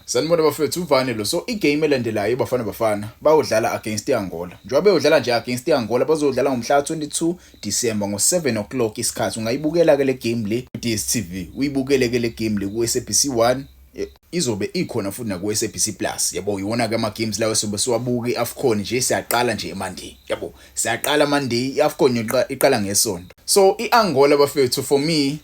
Sanibona bafethu uvane lo so igame elandelayo ibafana bafana bayodlala against iAngola njengoba beyodlala nje against iAngola bazodlala ngomhla 22 December ngo 7 o'clock isikhathi ungayibukela ke le game le ku DStv uyibukele ke le game le ku SABC 1 e, izobe ikhona futhi na ku SABC Plus yabo iwona ke ama games lawo sobe siwabuka iAfcon nje siyaqala nje eMonday yabo siyaqala Monday iAfcon iqala ngesonto so iAngola bafethu for me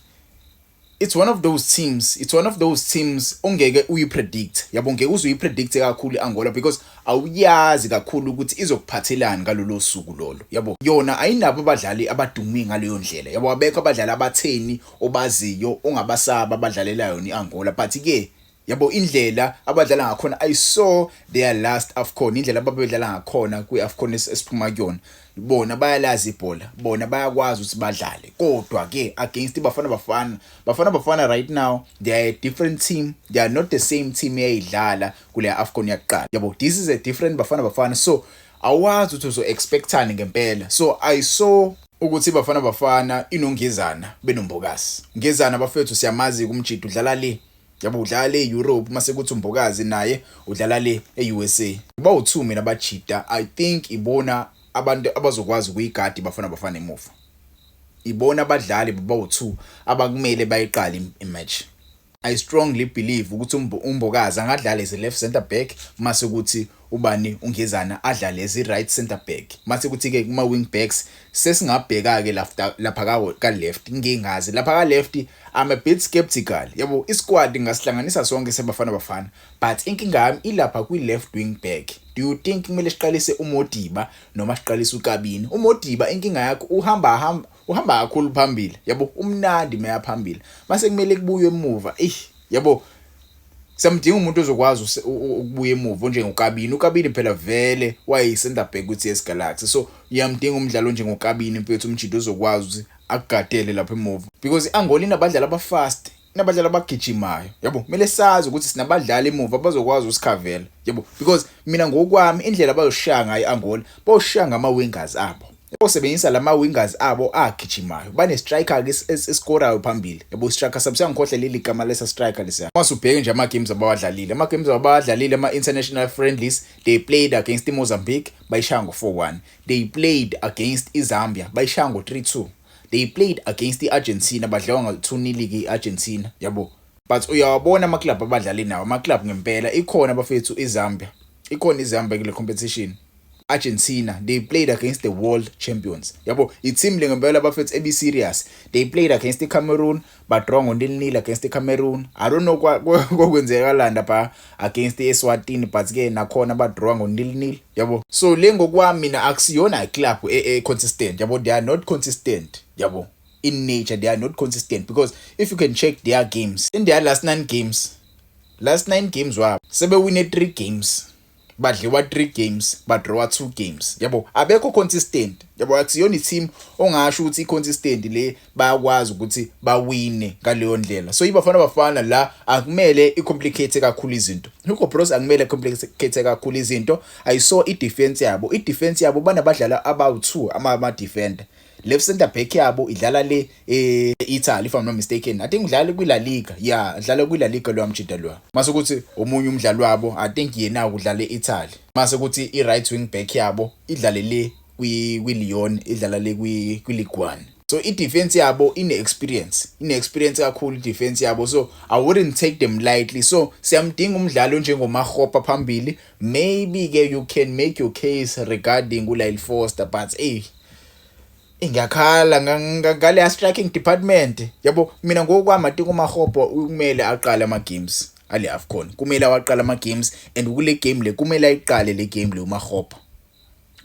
it's one of those teams it's one of those teams ongeke uyipredict yabo ngeke uze uyipredict kakhulu iAngola because awuyazi kakhulu ukuthi izokuphathelani ngalolo suku lolo yabo yona ayinabo abadlali abadumi ngaleyo ndlela yabo abekho abadlali abatheni obaziyo ongabasaba abadlalela yona iAngola but ke Yabo indlela abadlala ngakhona I saw their last Afcon indlela ababedlala ngakhona kwi Afcon esiphuma kuyona bona bayalazi ibhola bona bayakwazi ukuthi badlale kodwa ke against ibafana bafana bafana bafana right now they are a different team they are not the same team eyayidlala kule Afcon yakuqala yabo this is a different bafana bafana so awazi ukuthi uzo expectani ngempela so I saw ukuthi bafana bafana inongizana benombokasi ngizana bafethu siyamazi kumjidi udlala le Yabo udlala le Europe mase kuthi umbokazi naye udlala le eUSA. Uba u2 mina bajita I think ibona abantu abazokwazi kuyigadi bafana bafana emuva. Ibona abadlali baba u2 abakumele bayiqale imatch. I strongly believe ukuthi umbokazi angadlala as a left center back mase kuthi Ubani uNgezana adlale as i-right centre back? Mase kuthi-ke kuma-wing backs sesingabheka-ke lafta lapha ka ka-left ngingazi. Lapha ka-left I'm a bit sceptical yabo i-squad ngingasihlanganisa sonke seBafana Bafana but inkinga yami ilapha kwi-left wing back. Do you think kumele siqalise uModiba noma siqalise uKabini? UModiba inkinga yakho uhamba hamba uhamba kakhulu phambili yabo umnandi meya phambili mase kumele kubuywe emuva eish yabo Samdinga umuntu ozokwazi ukubuya emuva onjengokabini ukabini phela vele wayeyi-center back kwi-ts galaxy so uyamdinga umdlalo onjengokabini mfethu umjida ozokwazi ukuthi akugadele lapha emuva because i-angola inabadlali abafast inabadlali abagijimayo yabo kumele sazi ukuthi sinabadlali emuva bazokwazi usikhavela yabo because mina ngokwami indlela bazoshaya ngayo i-angola bayoshaya ngama-wingers abo Osebenzisa lama wingers abo agijimayo. Bane striker ke escorayo phambili. Yabo striker sabo siyangikhohle leli gama lesa striker lesiya. Uma subheke nje ama games abawadlalile. Ama games abawadlalile ama international friendlies they played against Mozambique bayishaya ngo 4-1. They played against iZambia bayishaya ngo 3-2. They played against iArgentina badlawa ngo 2-0 ke iArgentina. Yabo. but uyawabona ama club abadlali nawo ama club ngempela ikhona bafethu iZambia ikhona iZambia kule competition Argentina they played against the world champions yabo i team le ngempela bafethu ebi serious they played against the Cameroon but draw ngo nil nil against the Cameroon i don't know kokwenzeka landa ba against the Eswatini but ke nakhona ba draw ngo nil nil yabo so le ngokwami mina akusiyona i club e, e consistent yabo they are not consistent yabo in nature they are not consistent because if you can check their games in their last nine games last nine games wabo sebewine three games badliwa three games badrawa two games yabo abekho consistent yabo akusiyona i-team ongasho ukuthi i-consistent le bayakwazi ukuthi bawine ngaleyo ndlela so ibafana bafana la akumele i-complicate kakhulu izinto Hugo Bros akumele complicate kakhulu izinto i saw i-defense yabo i-defense yabo banabadlala abawu-2 ama-defender left center back yabo idlala le eh, Italy if I'm not mistaken I think udlala kwi La Liga yeah udlala kwi La Liga lo amjida lo mase ukuthi omunye umdlali wabo I think yena udlala eItaly mase ukuthi i right wing back yabo idlale le kwi kwi Lyon idlala le kwi kwi Ligue 1 so i defense yabo ine experience ine experience kakhulu i defense yabo so i wouldn't take them lightly so siyamdinga umdlali onjengomahopa phambili maybe ke you can make your case regarding uLyle Foster but hey ngiyakhala ngaleya striking department yabo mina ngokwami athi kumahopo kumele aqale ama games ale afcon kumele awaqale ama games and kule game le kumele ayiqale le game le umahopo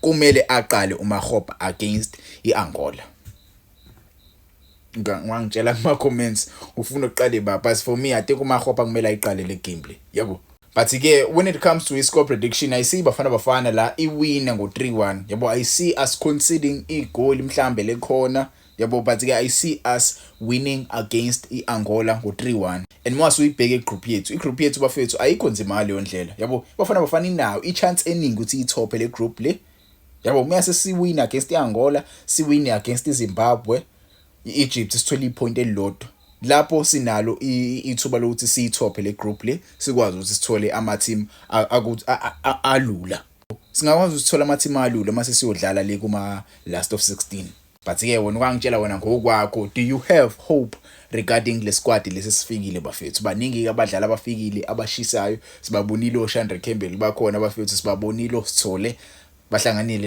kumele aqale umahopo against iangola wangitshela kuma comments ufuna uqale ba but for me i think uma hopa kumele ayiqale le game le yabo but ke when it comes to score prediction i see bafana bafana la iwina ngo 3-1 yabo i see us conceding igoal mhlambe lekhona yabo but ke i see us winning against iAngola ngo 3-1 and uma suyibheke igroup yethu igroup yethu bafethu ayikho nzima leyo ndlela yabo bafana bafana inayo ichance eningi ukuthi ithophe le group le yabo uma sesiwin against i-angola siwin against izimbabwe i-egypt sithole iphoyinti elilodwa lapho sinalo ithuba lokuthi siyithophe le group le sikwazi ukuthi sithole ama-team alula singakwazi ukuthi sithole ama-team alula uma sesiyodlala le kuma-last of 16 but ke wena ukangitshela wena ngokwakho do you have hope regarding le squad lesi sifikile bafethu baningi abadlali abafikile abashisayo sibabonile oShandre Campbell bakhona bafethu sibabonile osithole bahlanganile